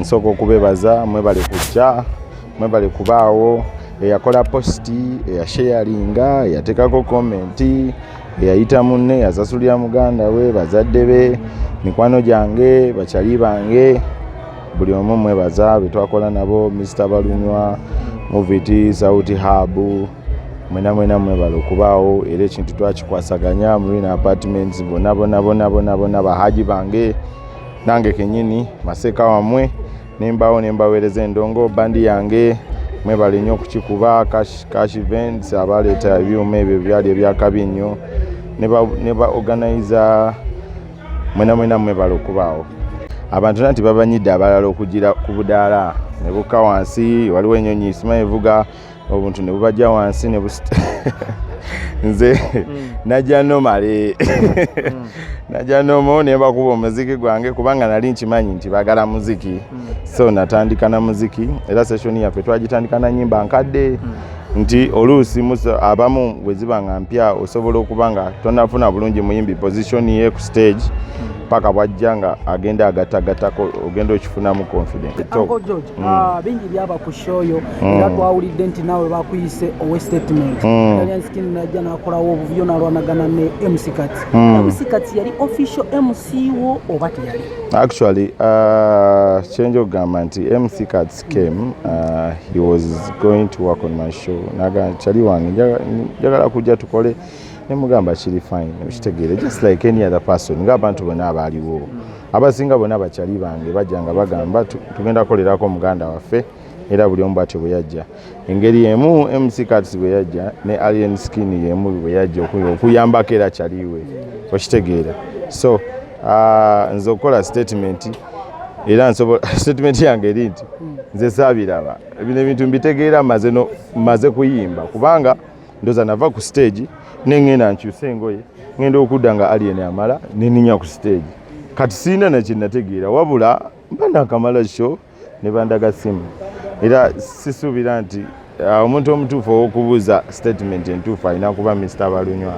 nsooka okubebaza mwebale kujja mwebale kubaawo eyakola positi eyasheyalinga eyateekako komenti eyayita munne eyasasulira muganda we bazadde be mikwano gyange bakyali bange buli omu mwebaza betwakola nabo mista balunywa muviti sauti habu mwena mwena mwebale okubaawo era ekintu twakikwasaganya mulina apartments bona bona bona bona bona bahaji bange nange kenyini maseeka wamwe nembaawo nembaweereza endongo bandi yange mwebale nnyo okukikuba cash events abaleeta ebyuma ebyo byali ebyakabi nnyo ne ba organiza mwena mwena mwebale okubaawo abantu nanti babanyidde abalala okugira ku budaala nebuka wansi waliwo enyonyi isima evuga obuntu ne bubajja wansi ne busta nze hmm. najja nomale hmm. najja nomo ne bakuba omuziki gwange kubanga nali nkimanyi nti bagala muziki hmm. so natandika na muziki era session yaffe twagitandika na nyimba nkadde nti oluusi abamu bwe ziba nga mpya osobola okuba nga tonafuna bulungi muyimbi position ye ku stage paka bwajja nga agenda agattagatako ogenda okifunamu confidence Mm. Ah, bingi byaba ku shoyo mm. era twawulidde nti naawe bakuyise owe statement mm. alianskin najja nakolawo obuvuyo nalwanagana ne mc kati mc kati yali official mc wo oba teyali actually uh, change okugamba nti mc kats came uh, he was going to work on my show naga chali wange njagala kujja tukole nemugamba kiri fine okitegeere just like any other person ngaabantu bonna abaaliwo mm. abasinga bona bakyali bange bajja nga bagamba tugenda kukolerako muganda waffe era buli omu bwatyo bwe yajja engeri emu mc cats bwe yajja ne alien skin yemu bwe yajja okuyambako era kyaliwe okitegeera so ah, nze okukola statement era nsobola statement yange eri nti nze saabiraba bino ebintu mbitegeera maze kuyimba kubanga ndoza nava ku stage nengenda nkyusa engoye ngenda okudda nga alien amala neninya ku stage kati sirina nakyenategeera wabula mba nakamala sho ne bandaga simu era sisuubira nti uh, omuntu omutuufu owokubuuza statement entuufu alina kuba mr balunywa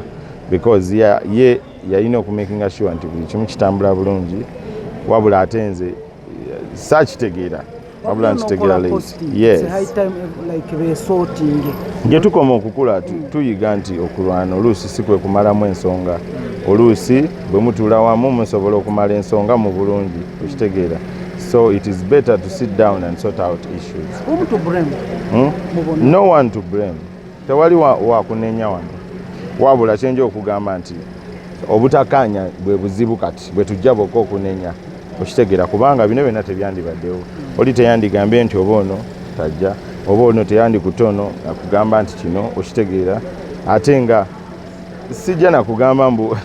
because ye yalina okumakinga sure nti buli kimu kitambula bulungi wabula ate nze uh, sakitegeera wabula nkitegera gye tukoma okukula tuyiga nti okulwana oluusi si kwe kumalamu ensonga oluusi bwe mutuula wamu musobola okumala ensonga mu bulungi okitegeera so it is better to sit down and sort out issues hmm? no one to blame tewali wakunenya wano wabula kyenja okugamba nti obutakaanya bwe buzibu kati bwe tujja bokka okunenya okitegera kubanga bino byonna tebyandibaddewo oli teyandigambye nti oba ono tajja oba ono teyandikutte ono akugamba nti kino okitegeera ate nga sijja nakugamba mbu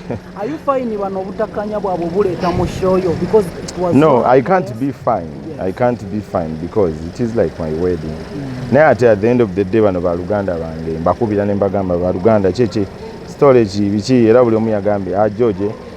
no i can't be fine i can't be fine because it is like my wedding mm. naye ate at the end of the day bano baluganda bange mbakubira ne mbagamba baluganda kyekye storage biki era buli omu yagambye ajoje ah,